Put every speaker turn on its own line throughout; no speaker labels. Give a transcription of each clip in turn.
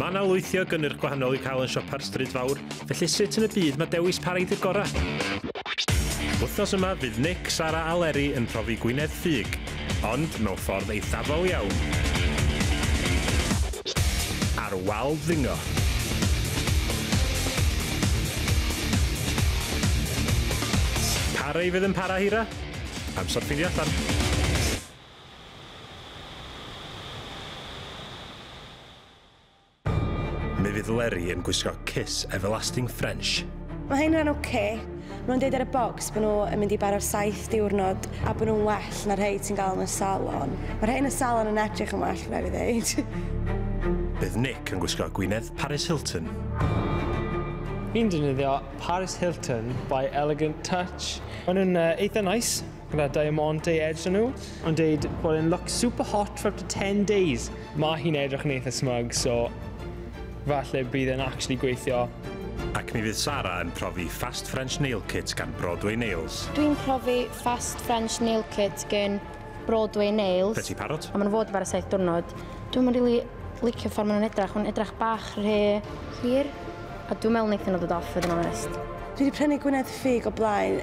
Mae 'na lwythi o gynnyrch gwahanol i'w cael yn siopa'r Stryd Fawr, felly sut yn y byd mae dewis pa reidi'r gorau? Wythnos yma fydd Nick, Sara a Leri yn profi Gwynedd Ffug, ond mewn ffordd eithafol iawn. Ar wal ddingo. Pa rei fydd yn para hira? Amser ffeindio allan. Mi fydd Leri yn gwisgo Kiss Everlasting French. Mae hyn yn ok.
Mae nhw'n deud ar y bocs bod nhw yn mynd i baro'r saith diwrnod a bod nhw'n well na rhei ti'n gael yn y salon. Mae rhei yn y salon yn edrych yn well, rhaid fi ddeud. Bydd Nick yn
gwisgo gwinedd Paris Hilton.
Fi'n defnyddio Paris Hilton by Elegant Touch. Maen nhw'n eitha neis. Gwna Diamante i edrych nhw. Ond deud bod e'n look super hot for up to 10 days. Mae hi'n edrych yn eitha smug, so falle bydd e'n actually gweithio. Ac mi fydd
Sara yn profi Fast French Nail Kit gan Broadway Nails. Dwi'n profi
Fast French Nail Kit gan Broadway Nails. Be ti parot? A maen nhw fod
bar y 7
diwrnod. Dwi'n mynd really licio ffordd maen nhw'n edrach, maen nhw'n edrach bach rhy hir. A dwi'n meddwl wneithon nhw ddod off fod yn onest. Dwi wedi prynu Gwynedd
Ffug o blaen.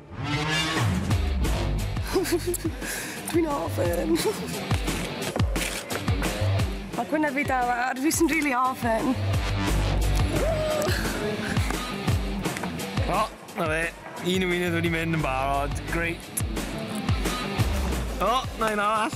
Dwi'n ofyn. Mae gwyneb fi dal ar, fi sy'n rili ofyn.
O, na fe. Un o wedi mynd yn barod. Grêt. O, na un arall.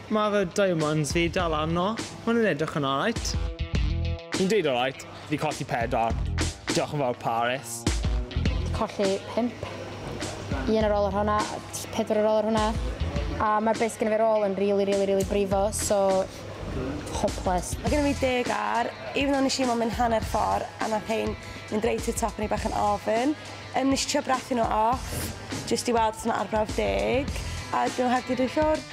Mae fy diamonds fi dal arno. Maen nhw'n edrych yn alright. Fi'n deud alright. Fi colli pedwar. Diolch yn fawr Paris. Fi colli
pump. Un ar ôl yr hwnna, pedwar ar ôl yr hwnna. A mae'r beth gen i fi'r ôl yn really, really, really brifo, so hopeless. Mae gen i fi deg
ar, even though nes i mo mynd hanner ffordd a nath hein mynd reit i'r top o'n i bach yn ofyn. Um, nes i trio brathu nhw off, jyst i weld os yna arbrawf deg, a
dwi'n
nhw heb di
dwy
ffwrdd.